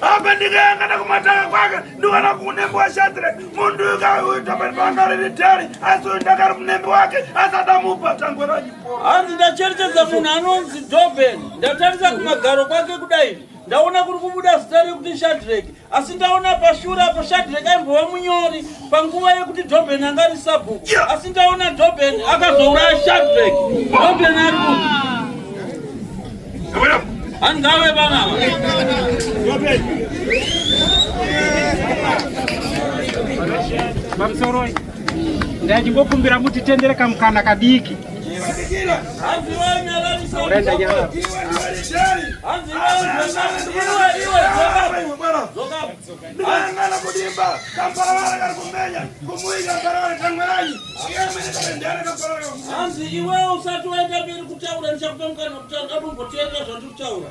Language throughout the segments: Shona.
apa ndikayangana kumatanga kwake ndiwana kunembe washatire mundu ikauita pari pangariri dhari asi uyu ndakari munembe wake asadamupa tangwe rajipo hanzi ndacherechedza munhu anonzi doben ndatarisa kumagaro kwake kudai ndaona kuri kubuda zita rekuti shadrek asi ndaona pashura apo shadrek aimbova munyori panguva yekuti Dobhen anga ari sabhuku asi taona Dobhen akazouraya Shadrack Dobhen ari kuti hangawe vanava pamusoroi ndachimbokumbira mutitendere kamukana kadiki hanzi vainyalarisa Anangana kudimba kambaravara kari kumenya kumuika mbaravara tangweranyi hanzi iwewo usati waenda mberi kutaura ndichakupa mukana kutanga kumboteerera zvandiri kutaura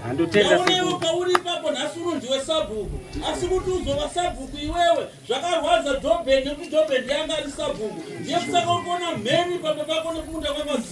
aunewo pauri ipapo nhasi uno ndiwe sabhuku asi kuti uzova sabhuku iwewe zvakarwadza doben nekuti doben yanga ari sabhuku ndiye kusaka ukuona mheni pamba pako nekumunda kwakaz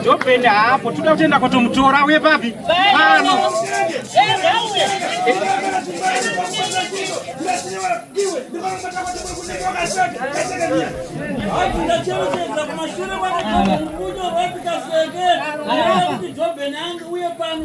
ndopenda hapo toda kutenda kwatomutora uye papi pano uye pano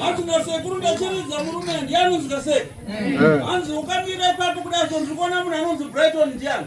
Hatuna sekuru ndachiridza murume ndiani usingaseki. Hanzi ukamira ipapo kudai so ndiri kuona munhu anonzi Brighton ndiani.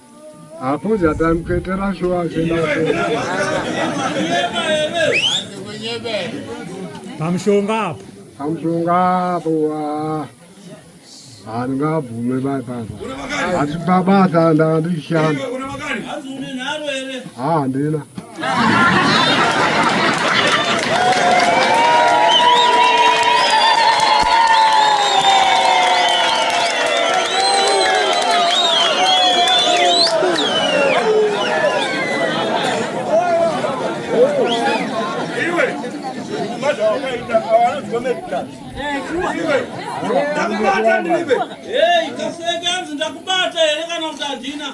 Apuza tamketera shuwa zena. Pamushonga apo. Pamushonga apo. Handingabvume bai baba. Asi baba atanda ndishanda. Hazvine nharo here? Haa handina. Hey, kaseka nzi ndakubata here kana kuti handina?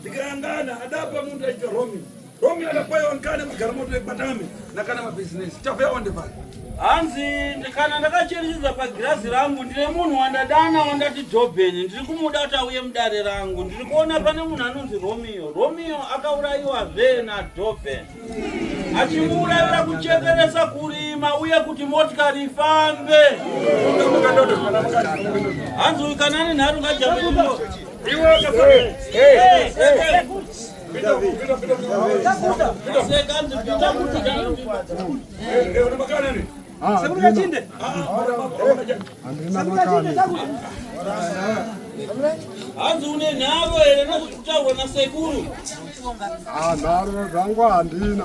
ndikayangana adapa munhu aita romi romi akakwaiwa nkane kugara moto yekwatame nakana mabhizinesi chavea wandevana hanzi kana ndakacherechedza pagirazi rangu ndine munhu wandadana wandati jobheni ndiri kumuda kuti auye mudare rangu ndiri kuona pane munhu anonzi romeo romeo akaurayiwazve najobheni achimuurayira kuchekeresa kurima uye kuti motikari ifambe hanzi uyu kana ane nharo ngajamaiwo hanzi une nharo here nozvitaurwa nasekuru ah, nharo zvangu handina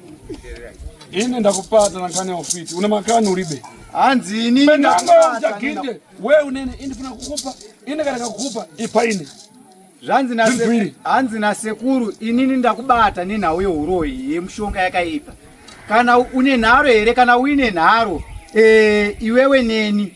Ini ndakupata na kani ofiti. Una makani uribe. Hanzi ini ndakupata. Ndakinde. Wewe unene ini funa kukupa. Ini kana kukupa ipa ini. Zvanzi na sekuru. Hanzi na sekuru ini ndakubata ni nhau yehuroyi yemushonga yakaipa. Kana une nharo here kana uine nharo eh iwewe neni.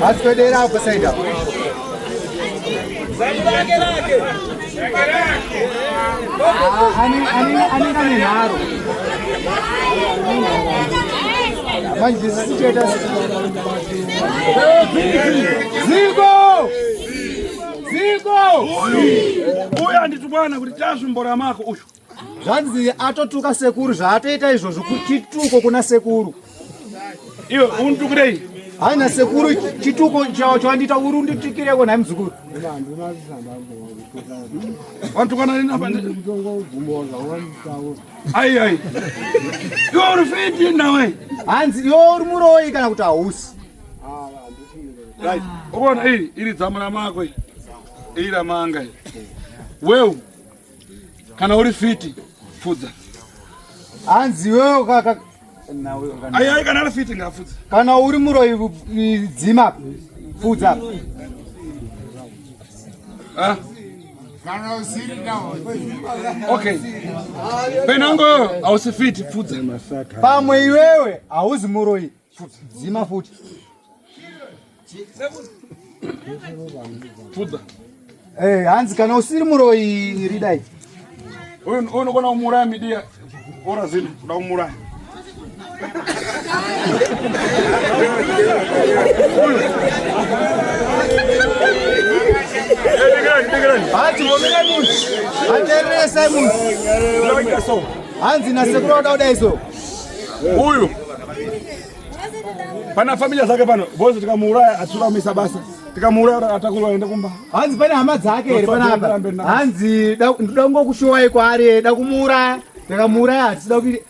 Hatupedera hapo side hapo. Lake lake. Ani ani ani ani naro. Manje sicheta Zigo! Zigo! Uyu anditi bwana kuti tasvimbora mako uyu. zvanzi atotuka sekuru zvaatoita izvozvo chituko kuna sekuru iwe unditukirei haina sekuru chituko chao chawandiita uri unditukireko nhai muzukuru ai ai iwe uri fiti nawe hanzi iwe uri muroyi kana kuti hausi uona iri iri dzamu ramako iri ramanga weu kana uri fiti fudza hanzi iwewe kaka ayai kana ari fiti ngafudza kana uri muroyi dzima fudza ah. okay penango hausi fiti fudza pamwe iwewe hauzi muroyi dzima futi pfuda eh, hanzi kana usiri muroyi ridai uyu unokona kumuuraya midiya ora zini kuda kumuuraya hanzi nasekuru vada kudai so Huyu pana familia zake pano bozi tikamuuraya atsuramisa basa tikamuuraya atakurwa aende kumba hanzi pane hama dzake here panapa hanzi ndoda kungokushuwai kwaari da kumuuraya tikamuuraya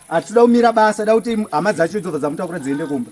hatida kumira basa da kuti hama dzacho idzo dzamutakura dziende kumba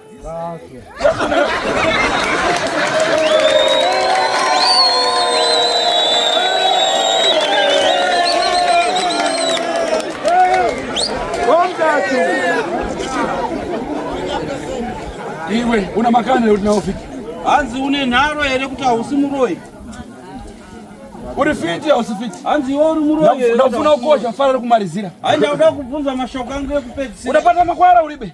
Iwe una makana leo tunaofika. Hanzi une nharo here kuti hausi muroyi? Uri fiti hausi fiti? Hanzi iwe uri muroyi here? Ndafuna kukosha fara kumalizira. Hayi ndauda kubvunza mashoko angu ekupedzisira. Unapata makwara uribe.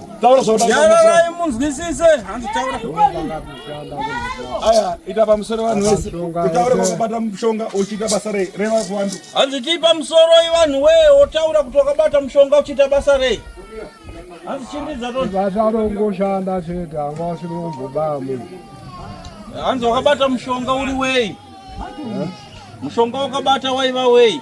taura zvaudaai munzwisise hanzi taura aya ita pamusoro vanhu vese utaure kwakabata mushonga uchiita basa rei reva kuvanhu hanzi tii pamusoro ivanhu wee wotaura kuti wakabata mushonga uchiita basa rei hanzi chindidza toasarongoshanda chega anga wasirombobaya munhu hanzi wakabata mushonga uri wei mushonga wakabata waiva wei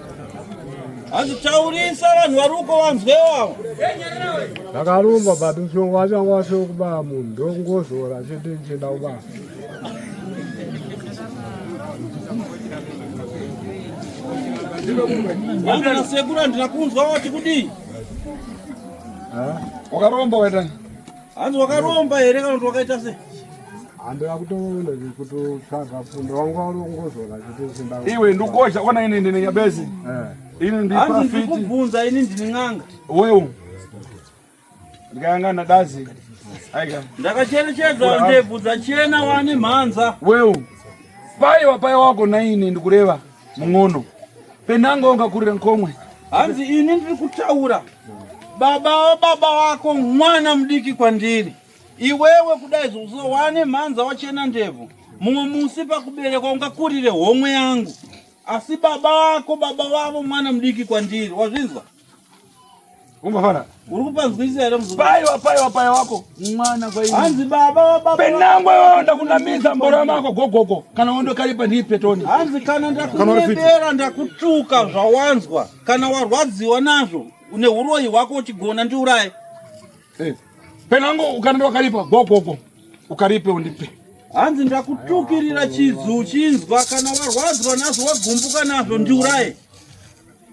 hanzi taurisa vanhu vari uko vanzwewo ndakarumba but ushongo wacho anga wasio kubaya munhu ndokungozora chete ndichienda kubaya vangana sekuru handina kunzwa wati kudii wakaromba waitani Hanzi wakaromba here kana kuti wakaita se? Handina kutoona kutotsvaga fundo wangu warongozola chete Iwe ndukosha ona ini ndine nyabezi. Eh. Ini ndi profit. Hanzi ndikubvunza ini ndine n'anga. Wewe. Ndikanga na dazi. Aika. Ndakacherechedza ndebvu dzachena wani mhanza. Wewe. Pai wapai wako na ini ndikureva. Mungono. Penanga ungakurira nkomwe. Hanzi ini ndiri kutaura. Baba baba wako mwana mudiki kwandiri. Iwewe kudai zvozo wane mhanza wachena ndebvu. Mumwe musi pakuberekwa ungakurire homwe yangu. Asi baba wako baba wavo mwana mudiki kwandiri. Wazvinzwa? Ungafana. Uri kupanzwisisa here mzukuru? Paiwa paiwa paiwa wako. Mwana kwa hiyo. Hanzi baba wa baba. Penangwe wewe ndakunamiza mbora mako gogogo. Kana wondo kalipa ni petoni. Hanzi kana ndakunembera ndakutuka zvawanzwa. Kana warwadziwa nazvo une uroyi wako uchigona ndiuraye. Eh. Penango ukanenda wakalipa gogogo. Ukalipe undipe. Hanzi ndakutukirira chizu chinzwa kana warwadzwa nazvo wagumbuka nazvo ndiuraye.